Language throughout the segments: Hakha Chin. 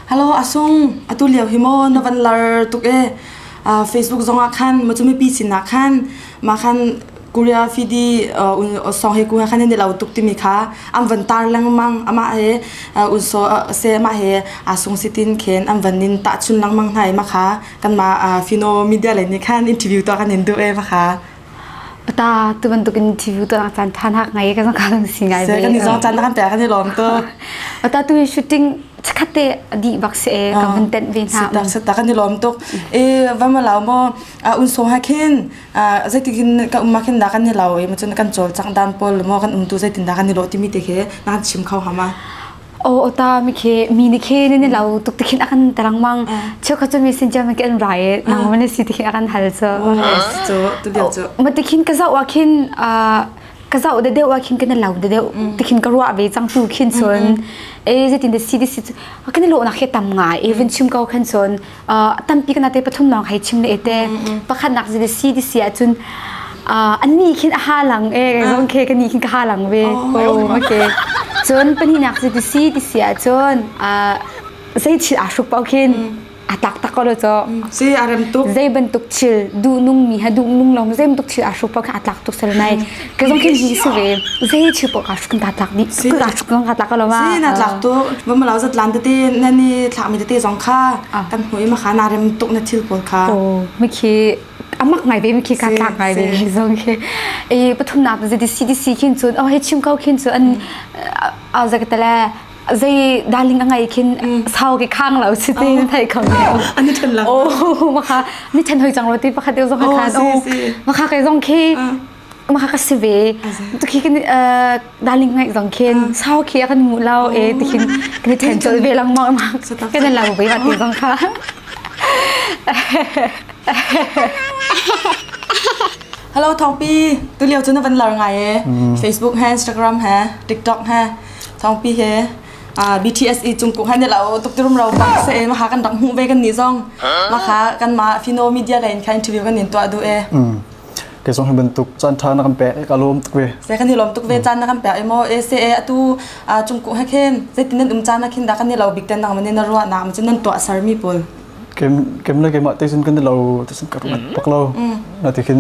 Hello asung atu lio hi mo na van lar tuk e uh, Facebook zong ah khan machumi pi sin ah khan ma khan Korea fidi un song he ku khan ni lau tuk timi kha am van tar langmang ama he un so se ma he asung sitin khen am van nin ta chun langmang hnai ma kha kan ma fino media le ni khan interview to kan in du e ma kha Ata tu bantukin TV tu chan than ha ngai ka ka kan si ngai ve. Kan ni zo chan kan pe kan ni lom to. Ata tu shooting chakate adi bak se ka man ten ve na. Sita sita kan ni lom to. E vama law mo un so ha khin zeitikin ka umma khin da kan ni law e ma chun kan chol chang dan pol mo kan um tu zeitin da kan ni lo timi te ke nan chim khau hama. Oh ota mi ke mi ni ke ni ni lau tuk tikhin akan tarangmang cheu kha chu mi sin jam ke an rai nang man si tikhin akan hal chu chu tu dia chu ma tikhin ka zau wa khin ka zau de deu wa khin kana lau de deu tikhin ka ruwa ve chang tu khin chon e je tin de si de si kan lo na khe tam ngai even chum kau khan chon tampi kana te pathum lawng hai chim le ete pakhat nak ji si di si ahcun an ni khin a ha lang e rong ke ka ni khin ka ha lang ve o okay cun pani nak ji di si di si ahcun zei chil a hruk pau khin a tak tak ko lo cho si a rem tuk zei ban tuk chil du nung mi ha du nung long zei ban tuk chil a hruk pau khan a tak tuk sel nai Ka zong khi ji se ve zei chi po ka kan ta tlak ni ka ka kan ka tlak lo ma si na tlak tu va ma lau zat lan te na ni thla mi te zong kha kan hui ma khana rem tuk na thil pol kha o mi khi amak ngai be mi khi ka tlak ngai be mi zong khi e pathum na ta dc dc khin chun o he chim kau khin chu an a za ka tale zai darling angai khin sau ke khang lo si te thai khang ani than la o ma kha ni than hoi chang lo ti pakhat zong kha than o ma kha kai zong khi maka ka si ve tukhi kan darling ngai zong khin sau khi kan ngu lo e tikhin kan i then chol ve lang ma ma kan lang ve ma ti zong kha Hello Thongpi tu liao chu na van lar ngai e Facebook he Instagram he TikTok he Thongpi he BTSE chungkuk han la o tuktirum ro tak se e ma ha kan dang hu ve kan ni zong ma ha kan ma Fino media line kha interview kan nin to adu e ke song bantuk chan tha na kan pe ka lom tuk ve se kan ni lom tuk ve chan na kan pe emo asa atu chung ku ha khen zeitin nan um chan na khin da kan ni lo big ten na mane na ruwa na ma nan to asar mi pol kem kem na kema te sun kan lo te sun kar mat pak lo na te khin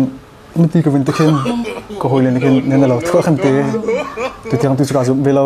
ni ti ko vin te khin ko hoi le ni khin ne na lo thua khan te tu tiang tu chu ka zum ve lo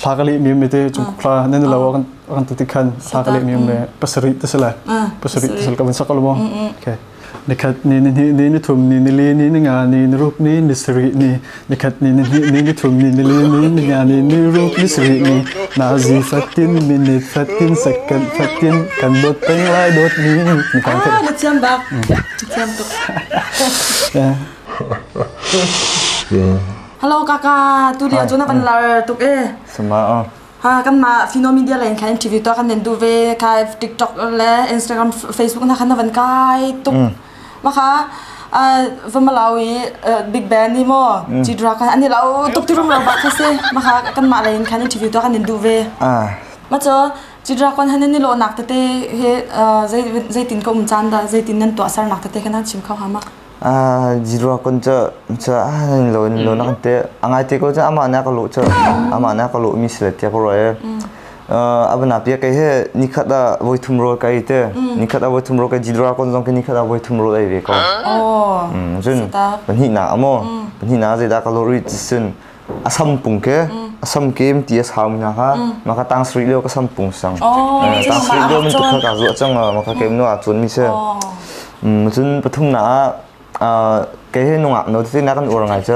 thla ka leh mi me te chung thla nan lo kan kan ti khan thla ka leh mi me pasari te sala pasari te sal ka ban sakal mo okay nikhat ni ni ni ni thum ni ni le ni ni nga ni ni rup ni ni sri ni nikhat ni ni ni ni thum ni ni le ni ni nga ni ni rup ni sri ni na zi fatin minute fatin second fatin kan dot peng lai dot ni ni kan the na chiam bak chiam to yeah Hello kaka, tu dia cu na van lar tuk e. Suma o. Ha kan ma Fino Media lane khan TV to kan nen du ve kai TikTok le Instagram Facebook na khan na van kai tuk. Ma kha va Malawi Big Band ni mo G Dragon ani lau tuk ti rum lau ba kha se ma kha kan ma lane khan TV to kan nen du ve. Ah. Ma cho G Dragon han ni lo nak te te he zai zai tin ko um chan da zai tin nan to asar nak te te khan han chim khao hama. zero kun cu cu lo in lo na kan te a ngai te ko cun amah na ka luh cu amah na ka luh mi si le tia ka ro e abana pia kai he nikhat a voi thum ro kai te nikhat a voi thum ro kai zero kun zong ke nikhat a voi thum ro dai ve ko jun pahnih na amo pahnih na zei da ka lo ri sin a sam pung ke a sam kem ti a sau mi hna kha ma ka tang sri leo ka sam pung sang tang sri leo min tu kha ka zuah cang ma ka kem no a cun mi se cun pathum na a ke he nungak no ti na kan ur ngai cha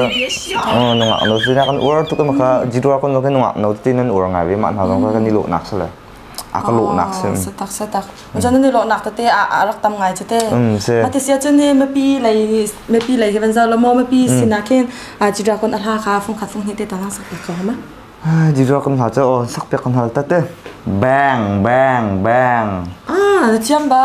nungak no ti na kan ur tu ka ma ka jirwa kon lo ke nungak no ti nan ur ngai ve ma hna zong ka ni lo nak sale a ka lawhnak sim satak satak cun nan i lawhnak tete a a rak tam ngai cete a ti sia cun hi mipi lei mipi lei hi van zau lamaw mipi sinah khin a ci drakon a hla kha fung khat fung hnih te tang sak ko ma ai di drakon hla cha o sak pek hna ta te bang bang bang ah chiam ba